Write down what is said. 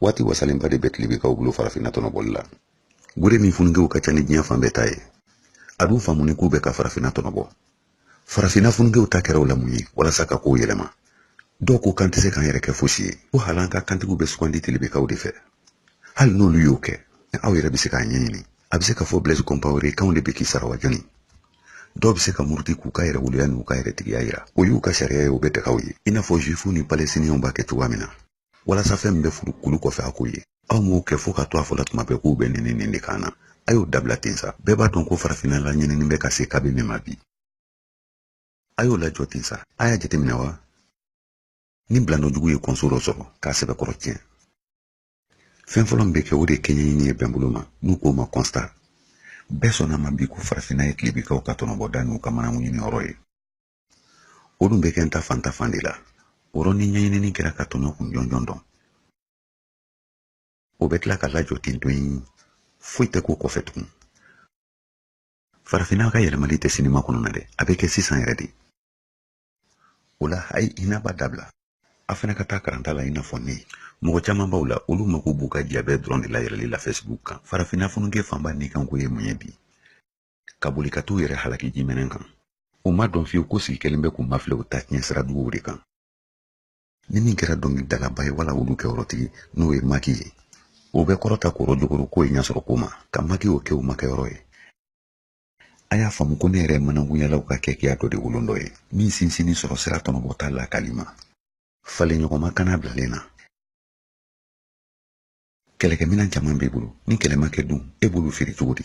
waati wasalenba de bɛ tilebekaw bolo farafinna tɔnɔbɔli la gure min funukew ka ca ni diɲɛ fan bɛɛ ta ye a dun faamuni k'u bɛ ka farafinna tɔnɔbɔ farafinna funukew ta kɛra o la mun ye walasa ka kow yɛlɛma dɔw ko k'an tɛ se k'an yɛrɛ kɛ fosi ye ko hal'an ka kantigiw bɛ sugandi tilebekaw de fɛ hali n'olu y'o kɛ aw yɛrɛ bɛ se k'a ɲɛɲini a bɛ se k'a fɔ blaise compaore kaw de bɛ k'i sara wa jɔni dɔw bɛ se ka muruti k'u ka yɛrɛwoloya n'u ka yɛrɛtigiya yira o y'u ka sariya ye o bɛ daga u ye i n'a fɔ juifu ni palestiniyɛnw b'a kɛ cogoya min na walasa fɛn min bɛ furu kulu kɔfɛ a k'o ye aw m'o kɛ fo ka to a fɔla tuma bɛɛ k'u bɛ nin nin de kan na a y'o dabila ten sa bɛɛ b'a dɔn ko farafinna laɲinini bɛ ka se kabi min ma bi a y'o lajɔ ten sa a y'a jateminɛ wa ni bilanɔjugu ye kɔnso dɔ sɔrɔ k'a sɛbɛkɔrɔ tiɲɛ fɛn fɔlɔ min bɛ kɛ o de ye kɛɲɛɲini ye bɛnbolo ma n'u k'o ma constat bɛɛ sɔnn'a ma bi ko farafinna ye tilebikaw ka tɔnɔbɔda n'u ka manankunɲini yɔrɔ ye o dun bɛ kɛ n ta fan ta fan de la o yɔrɔ ni ɲɛɲinini kɛra ka tɔɲɔ kun jɔnjɔn dɔn o bɛ tila ka lajɔ ten dɔrɔn foyi tɛ k'o kɔfɛ tugun farafinna ka yɛlɛmali tɛ sini makɔnɔ na dɛ a bɛ kɛ sisan yɛrɛ de o la a ye hinɛ ba dabila a fana ka taa karanta la i n'a fɔ ne mɔgɔ caman b'aw la olu mako b'u ka jiyabɛ dɔrɔn de layɛlɛli la fɛsibuku kan farafinna funuke fanba nikanko ye mun ye bi ka boli ka t'u yɛrɛ halaki jimɛnɛ kan u m'a dɔn fiyewu ko sigi kɛlen bɛ k'u mafilɛ u ta tiɲɛ sira juguw de kan ni min kɛra dɔnkilidalaba ye wala olu kɛyɔrɔtigi n'o ye maki ye o bɛ kɔrɔta kɔrɔ jogoro k'o ye ɲɛsɔrɔ ko ma ka makiw kɛ u makɛyɔrɔ ye a y'a faamu ko nin yɛrɛ ye manankunyalaw ka keguya dɔ de bolon dɔ ye min sinsinnin sɔrɔ sira tɔnɔbɔta lakali ma falen ɲɔgɔnma kana bilalen na kɛlɛkɛminɛn caman b'i bolo ni kɛlɛ ma kɛ dun e b'olu feere cogo di